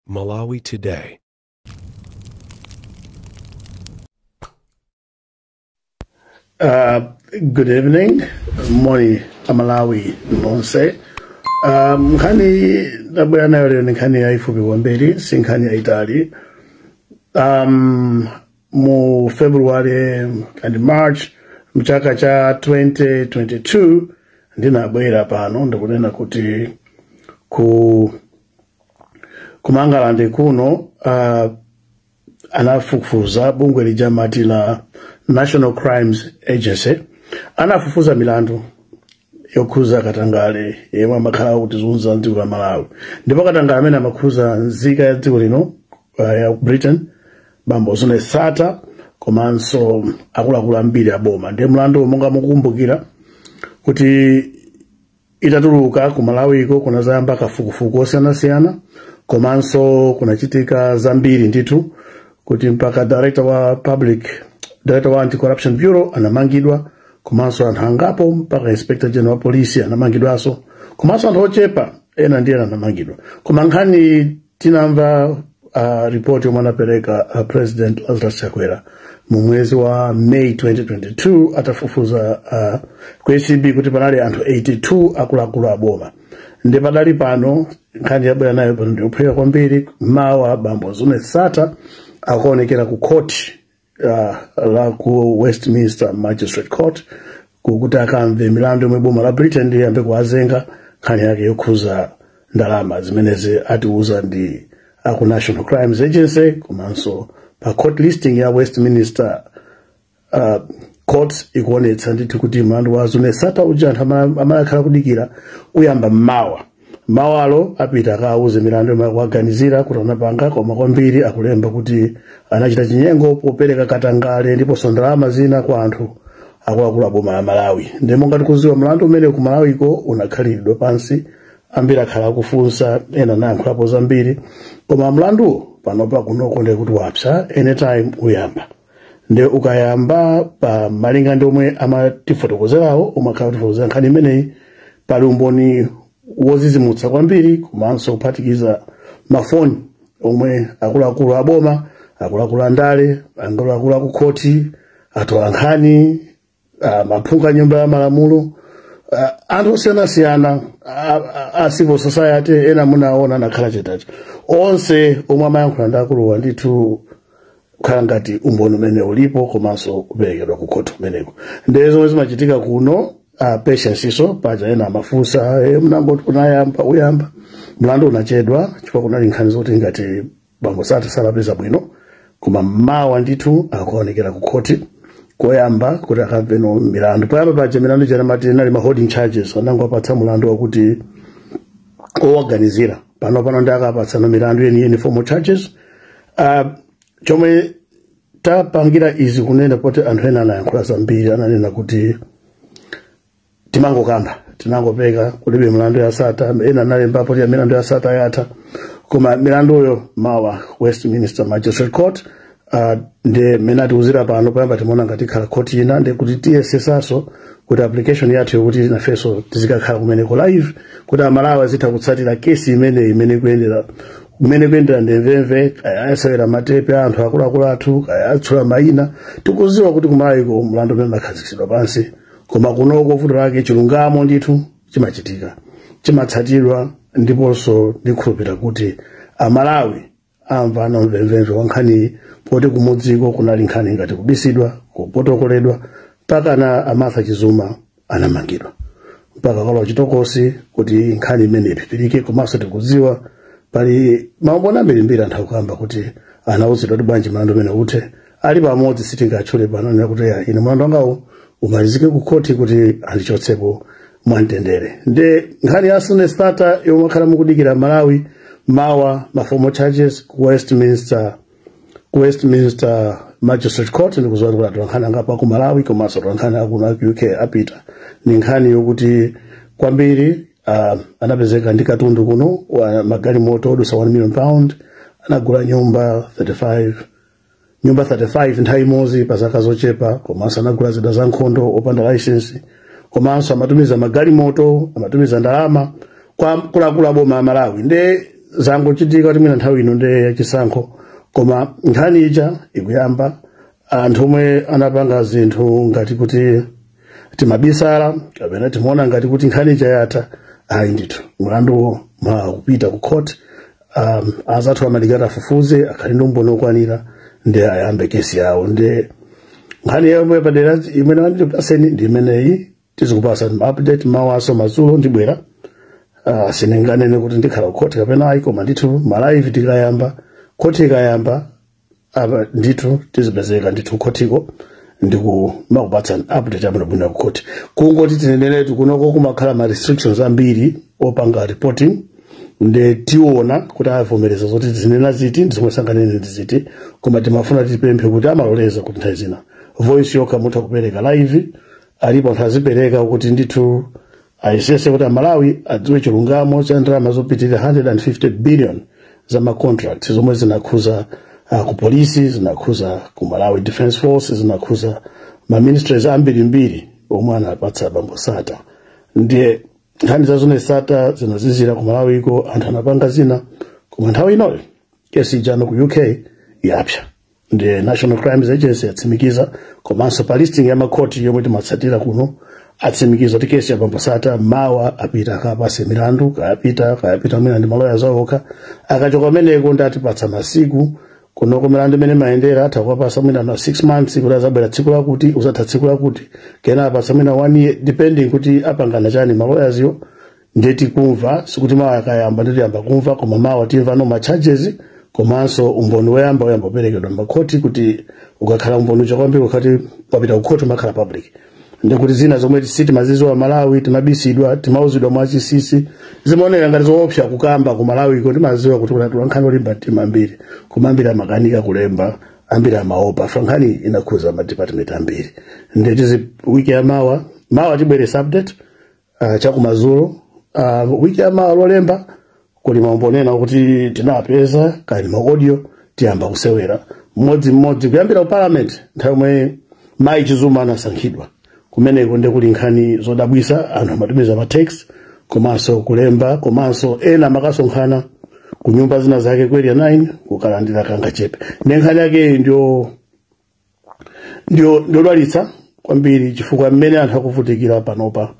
Malawi Today. Uh, good evening moni aMalawi nonse um, nkhani ndabwera nayo lero ni nkhani yayifupi kwambiri si nkhani yayitali um, mu february and march mchaka cha 2022 ndinabwera pano ndikunena kuti kuMangalande kuno uh, anafufuza bungwe lija mati la national crimes agency anafufuza milandu yokhuza katangale yemwe amakhala akutizunza m'dziko la Malawi ndipo katangale amene amakhuza nzika ya dziko lino uh, ya ku britain bambo Zuneth Sattar komanso akuluakulu ambiri aboma ndiye mlandu monga mukukumbukira kuti itatuluka ku malawiko kunazayamba kafukufuku osiyanasiyana komanso kunachitika zambiri ndithu kuti mpaka director wa public director wa anti-corruption bureau anamangidwa komanso anthu angapo mpaka inspector general wa polisi anamangidwanso komanso anthu ochepa ena ndiye anamangidwa koma nkhani tinamva uh, ripoti yomwe anapereka uh, president lazarus chakwera mu mwezi wa may 2022 atafufuza uh, ku acb kuti panali anthu 82 akuluakulu aboma nde pakadali pano nkhani ndabwera nayo pano ndiyophweka kwambiri mawa bambo Zuneth Sattar akuonekera ku khoti uh, la ku westminster magistrate court kukuti akamve milandu yomwe boma la britain liyambe kuwazenga nkhani yake yokhuza ndalama zimenezi atiuza ndi aku national crimes agency komanso pa court listing ya westminster uh, courts ikuonetsa ndithu kuti mlandu wa Zuneth Sattar uja anthu amene akhala akudikira uyamba mmawa mawalo apita akawuze milandu yomwe akuwaganizira kuti anapanga koma kwambiri akulemba kuti anachita chinyengo popereka katangale ndiponso ndalama zina kwa anthu akuluakulu a boma la malawi nde monga tikuziwa mlandu umene ku malawiko unakhalidwa pansi ambiri akhala akufunsa ena nayankhulapo zambiri koma mlanduwo panopa kunoko ndekuti wapsa anytime uyamba nde ukayamba pa malinga ndi omwe amatifotokozerawo omwe akhala akutifotokozera nkhani imeneyi pali umboni wozizimutsa kwambiri komanso kuphatikiza mafoni omwe akuluakulu aboma akuluakulu andale akuluakulu akukhoti atola nkhani ah, aphungu a nyumba ya malamulo ah, anthu osiyanasiyana a- a- a civil society ena munaona anakhala chetacho onse omwe amayankhula ndi akuluwa ndithu kukhala ngati umboni umene ulipo komanso kuperekedwa ku khoti kumeneko ndiye zomwe zimachitika kuno a patienceso paja ena amafunsa e, mnangoti kunayamba kuyamba mlandu unachedwa chifukwa kunali nkhani zoti ngati bambo sata sanapeza bwino koma mawa ndithu akaonekera ku khoti koyamba kuti akamveno milandu poyamba paja milandu ija amati inali ma holding charges anangowapatsa mulandu wakuti owaganizira pano pano nde akawapatsano milandu yeniyeni formal charges uh, chomwe tapangira izi kunena kuti anthu ena anayankhula zambiri ananena kuti timangokamba tinangopeka kulibe milandu ya sata ena analembapo kuti milandu ya sata yatha koma milanduyo mawa westminster magistrate court uh, ndi mmene atiuzira pano poyamba timaona ngati ikhala khoti ina ndi kuti tiyesesanso kuti application yathu yokuti nafenso tizikakhala kumeneko live kuti amalawi azitha kutsatira kesi imeneyi mmene kuyendera mmene ikuyendera ndi mvemvemve ayasewera matepe a anthu akuluakulu athu awatchula mayina tikuziwa kuti kumalawiko mlandu umene unakhazikitsidwa pansi koma kunoko vuto lake chilungamo ndithu chimachitika chimatsatidwa ndiponso ndikhulupira kuti amalawi amva na mvemvemve wa nkhaniyi poti kumudziko kunali nkhani ngati kubisidwa kupotokoledwa mpaka a martha chizuma anamangidwa mpaka kulowa chitokosi kuti nkhani imene iphipirike komanso tikudziwa pali maumboni ambirimbiri anthu akukamba kuti anauzidwa kuti bwanji mlandu umene uthe ali pamodzi sitingawatchule pano anena kuti ya ine mlandu wangawo umalizike ku khoti kuti andichotsepo mwamtendere nde nkhani ya zuneth sattar yomwe akhala mukudikira malawi mawa ma formal charges ku westminster ku westminster magistrate court ndikuziwa kuti atolankhani angapo a ku malawi komanso atolankhani akuno aku uk apita ni nkhani yokuti kwambiri uh, anapezeka ndi katundu kuno wa magalimoto odusa 1 million pound anagula nyumba 35 nyumba 35 nthawi imodzi pa zaka zochepa komanso anagula zida za nkhondo opanda layisensi komanso amatumiza magalimoto amatumiza ndalama kwa akuluakulu a boma la malawi nde zangochitika kuti mwina nthawi ino nde yachisankho koma nkhani ija ikuyamba anthu omwe anapanga zinthu ngati kuti timabisala kapena timaona ngati kuti nkhani ija yatha ayi ndithu mlanduwo mawa ukupita ku court um, azathu amadikira afufuze akhale ndi umboni okwanira nde ayambe kesi yawo ndi nkhani yomwe padera imene mwandipatsayi ndi imeneyi tizikupasa update mawaso madzulo ndibwera uh, sininganene kuti ndikhala kukhoti kapena ayi koma ndithu malive tikayamba khoti ikayamba apa ndithu tizipezeka ndithu khotiko ndikumakupatsani update abwinobwino kukhoti kungoti tineneretu kunoko kumakhala ma restrictions ambiri opanga reporting nde tiona kuti avomereza zoti tizinena ziti ndi zomwe sanganene ndi ziti koma timafuna tipemphe kuti amaloleza kuti nthawi zina voice yokha mutha kupereka live alipo anthu azipereka kuti ndithu ayesese kuti amalawi adziwe chilungamo cha ndalama zopitirira 150 billion za macontract zomwe zinakhuza uh, ku polisi zinakhuza ku malawi defense force zinakhuza maministries ambirimbiri omwe anapatsa bambo sattar ndiye nkhani za zuneth sattar zinazizira ku malawiko anthu anapanga zina koma nthawi inoyo kesi ija no ku uk yapsa nde national crime agency yatsimikiza komanso pa listing ya makhoti yomwe timatsatira kuno atsimikiza kuti kesi ya bambo sattar mawa apita akapasidwe milandu kaya apita kaya apita mwina ndi maloya awo okha akachoka kumeneko nde atipatsa masiku kunoko milandu mmene imayendera atha kuwapasa mwina na 6 months kuti azabwera tsiku lakuti uzatha tsiku lakuti kena awapasa mwina 1 year depending kuti apangana chani maloyazi awo ndiye tikumva sikuti mawa akayamba ndiye tiyamba kumva koma mawa timva no ma charges komanso umboni woyamba woyamba uperekedwa makhoti kuti ukakhala umboni uja kwambiri ukati wapita kukhoti umakhala public ndiye kuti zina zomwe sitimaziziwa amalawi timabisidwa timauzidwa mwachisisi zimaonera ngati zoopsa kukamba ku malawiko timaziwa kuti kuli atolankhani olimba mtima ambiri koma ambiri amakanika kulemba ambiri amaopa chifukwa nkhani inakhuza madepartment ambiri ndiye tizi wiki ya mawa mawa tibweresa update uh, chakumadzulo uh, wiki yamawa lolemba kuli maumboni ena oti tinawapeza kale maaudio tiyamba kusewera mmodzi mmodzi kuyambira ku parliament nthawi yomwe mayi chizuma anasankhidwa kumeneko nde kuli nkhani zodabwisa anthu amatumiza ma text komanso kulemba komanso ena amakasonkhana ku nyumba zina zake ku area 9 kukalandira kangachepe nde nkhani yake ndiyo ndi yodwalitsa kwambiri chifukwa mmene anthu akuvutikira panopa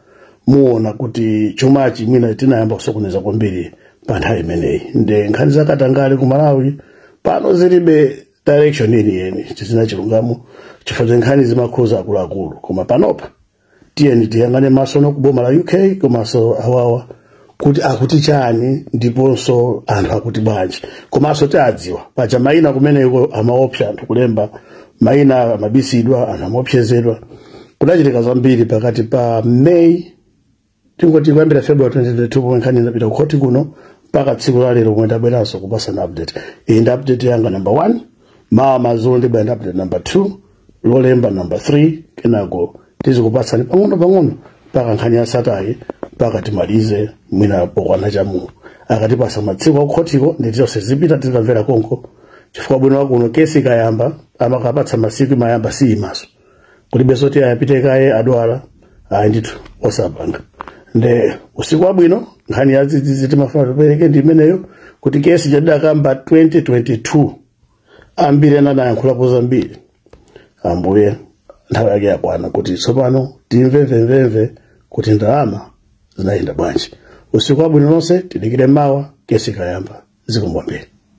muona kuti chumachi mwina tinayamba kusokoneza kwambiri pa nthawi imeneyi nde nkhani zakatangale ku malawi pano zilibe direction yeniyeni zisina chilungamo chifukwa nkhani zimakhuza akuluakulu koma panopa tiyeni tiyang'ane masono kuboma la uk komanso awawa kuti akuti chani ndiponso anthu akuti bwanji komanso tiwadziwa paja mayina kumeneko amaopseza anthu kulemba mayina amabisidwa anthu amaopsezedwa kudachitika zambiri pakati pa may tingoti kuyambira february 2022 pomwe nkhani inapita kukhoti kuno mpaka tsiku la lero pomwe tabweranso kupatsana update iyi ndi update yanga number 1 mawa madzulo ndibwera ndi update number 2 lolemba number 3 kenako tizikupatsani pang'ono pang'ono mpaka nkhani ya Sattar-yi mpaka timalize mwina pokwana cha muno akatipatsa masiku akukhotiko ndiye tonse tizipita tikamvera konko chifukwa ubwino wakuno kesi ikayamba amakapatsa masiku imayamba siyimaso kulibe zoti ayapite kaye adwala ayi ndithu osapanga nde usiku wabwino nkhani ya dzidzidzi timafuna tipereke ndi imeneyo kuti kesi tidaikamba 2022 ambiri ena anayankhulapo zambiri ambuye nthawi yake yakwana kuti tsopano timve mvemvemve kuti ndalama zinayenda bwanji usiku wabwino nonse tidikire mawa kesi ikayamba zikomo kwambiri